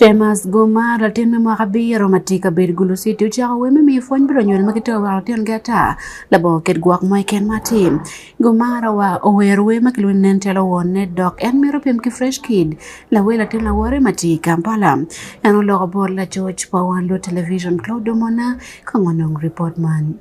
Shemas Gomar, latin me mwaka abiro ma tye i kabedo Gulu City, ocako wer me miyo pwony bot lunyodo ma gitero woko lutingi ata labongo oket gwok mo i kin ma atim. Gomar owero wer ma kilwongo ni Nen Calo Wonne dok en mito pim ki Fresh Kid, lawer latin lawote ma tye i Kampala. En oloko bot lacoc pa wan luot television Claude Omona kong onongo ripot man.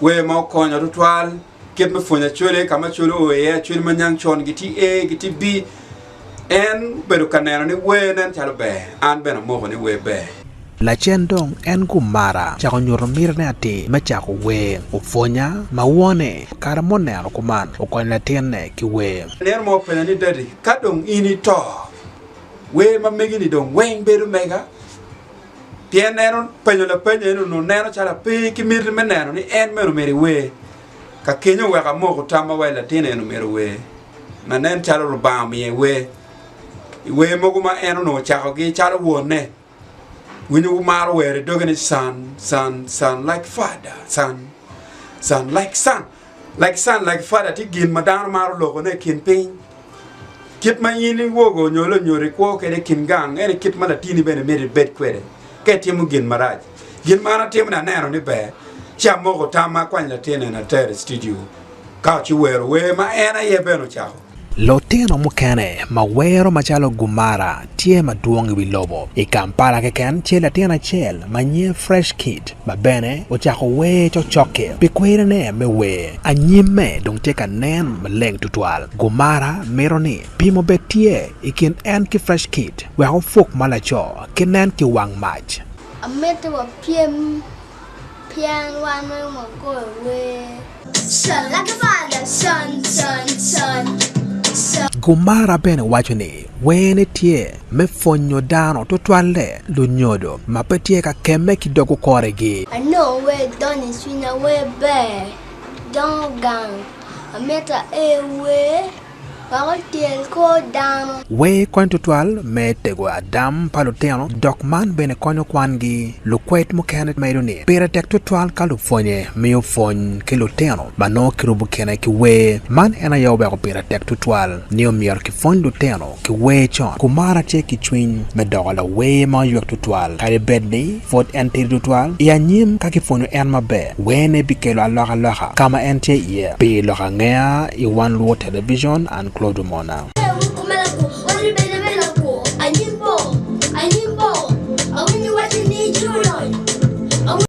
Wer ma okonya tutwal kit me pwonyo acwele ka ma cwele oo iye acwel ma nyang con giti A giti B en obedo ka neno ni wer nen calo ber an bene amoko ni wer ber. Lacen dong en gumara cako nyuto mitine atir me cako wer. Opwonya ma wone kare ma oneno kuman okonyo latinne ki wer. Nino mo openya ni, Daddy, ka dong in ito, wer ma megi-ni dong weng bedo mega? Pien en openyo lapeny eno nongo neno calo ape ki miti me neno ni en mene omyero iwer. Ka keny oweko amoko tamma wai latin eno omyero ower, ma nen calo Lubanga omiyo iwer. Iwer mogo ma en onongo ocakogi calo wonne, winyo wumaro wer i doge ni, Son, son, son like father, son, son like son. Like son, like father tye gin ma dano maro lokone i kin piny. Kit ma in iwogo nyo lonyodo ikwo kwede i kin gang ene kit ma latini bene myero ibed kwede ka itimo gin marac. Gin ma an atimo ni aneno ni ber, ci amoko tam ma akwany latin eni atero i studio ka ci wero wer ma en aye bene ocako. Lutino mukene ma wero macalo Gumara tye madwong i wi lobo. I Kampala keken tye latin acel ma nyinge Fresh Kid ma bene ocako wer cocokke pi kwerine me wer. Anyimme dong tye ka nen maleng tutwal. Gumara mito ni pim obed tye i kin en ki Fresh Kid wek opuk ma laco ki nen ki wang mac. Amito wapyem Pien wan merowa goyo wer. Con lake balla con con con con. Gomara bene waco ni werne tye me pwonyo dano tutwalle lunyodo ma pe tye ka kemme ki dog okoregi. Anongo wer donyo i cwinya wer ber dongo gang amito aee wer. wek otyel kor dano. Wer kony tutwal me tego adam pa lutino, dok man bene konyo kwangi. Lukwed mukene medo ni, Pire tek tutwal ka lupwonye miyo pwony ki lutino ma nongo kirubo kine ki wer. Man en aye oweko pire tek tutwal ni omyero kipwony lutino ki wer con. Kumara tye ki cwiny me doko lawer ma oywek tutwal kadi bed ni Pud en tidi tutwal i anyim ka kipwonyo en maber. Wene bikelo alokaloka ka ma en tye iye? Pi lok angeya i Wan Luwo Televicon, an Claude Omona.